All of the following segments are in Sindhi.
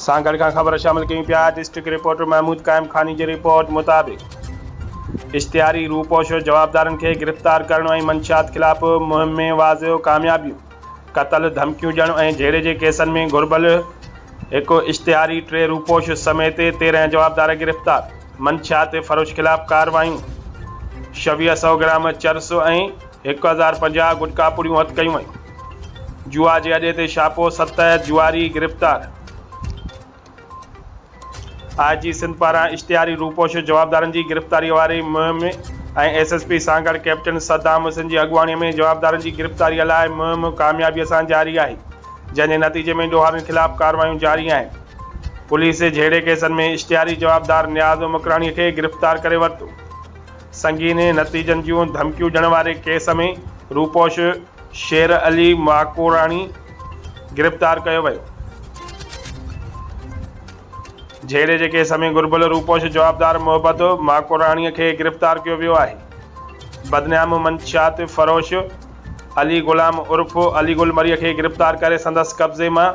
سان گڏ کان خبر شامل ڪيون پيا ڊسٽرڪٽ رپورٽر محمود قائم خاني جي رپورٽ مطابق اشتهاري روپوشو جوابدارن کي گرفتار ڪرڻ ۽ منشيات خلاف مهم ۾ واضح ڪاميابيون قتل ڌمڪيون ڏيڻ ۽ جهيڙي جي ڪيسن ۾ گهربل هڪ اشتهاري ٽي روپوش سميت تيرهن جوابدار گرفتار منشيات فروش خلاف ڪارروايون شويهه سئو گرام چرس ۽ هڪ هزار پنجاهه گٽڪا پڙيون هٿ ڪيون ويون. جوا جي اڏي تي ڇاپو، ست جوئاري گرفتار، آء جي سنڌ پاران اشتهاري روپوش جوابدارن جي گرفتاري واري مهم ۽ S S P Sanghar captain Saddam Hussain جي اڳواڻي ۾ جوابدارن جي گرفتاري لاء مهم ڪاميابي سان جاري آهي جنهن جي نتيجي ۾ ڏوهارين خلاف ڪارروايون جاري آهن پوليس جهيڙي ڪيسن ۾ اشتهاري جوابدار نياز مڪراڻي کي گرفتار ڪري ورتو سنگين نتيجن جون ڌمڪيون ڏيڻ واري ڪيس ۾ روپوش شير علي ماڪوڙاڻي گرفتار ڪيو ويو. جهيڙي جي ڪيس ۾ گهربل روپوش جوابدار محبت ماڪوڙاڻي کي گرفتار ڪيو ويو آهي. بدنام منشيات فروش علي غلام عرف علي گل مري کي گرفتار ڪري سندس قبضي مان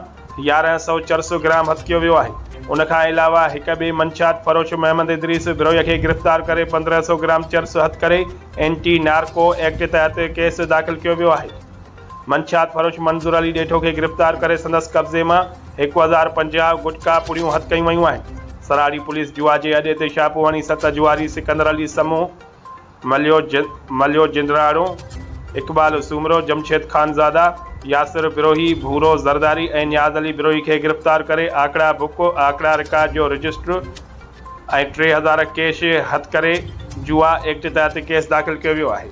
يارهن سئو چرس گرام هٿڪيو ويو آهي، ان کان علاوه هڪ ٻئي منشيات فروش محمد ادريس بروهي کي گرفتار ڪري پندرهن سئو گرام چرس هٿ ڪري اينٽي نارڪو ايڪٽ تحت ڪيس داخل ڪيو ويو آهي، منشيات فروش منظور علي ڏيٺو کي گرفتار ڪري سندس قبضي مان هڪ هزار پنجاهه گٽڪا پڙيون هٿ ڪيون ويون آهن، سراڙي پوليس جوا جي اڏي تي ڇاپو هڻي ست جواري سڪندر علي سمون، مليو جند، مليو جندڙاڻو، اقبال سومرو، جمشيد خانزاده، ياسر بروهي، ڀورو زرداري ۽ نياز علي بروهي کي گرفتار ڪري آڪڙا بڪ، آڪڙا رڪارڊ جو رجسٽر ۽ ٽي هزار ڪيش هٿ ڪري جوا ايڪٽ تحت ڪيس داخل ڪيو ويو آهي.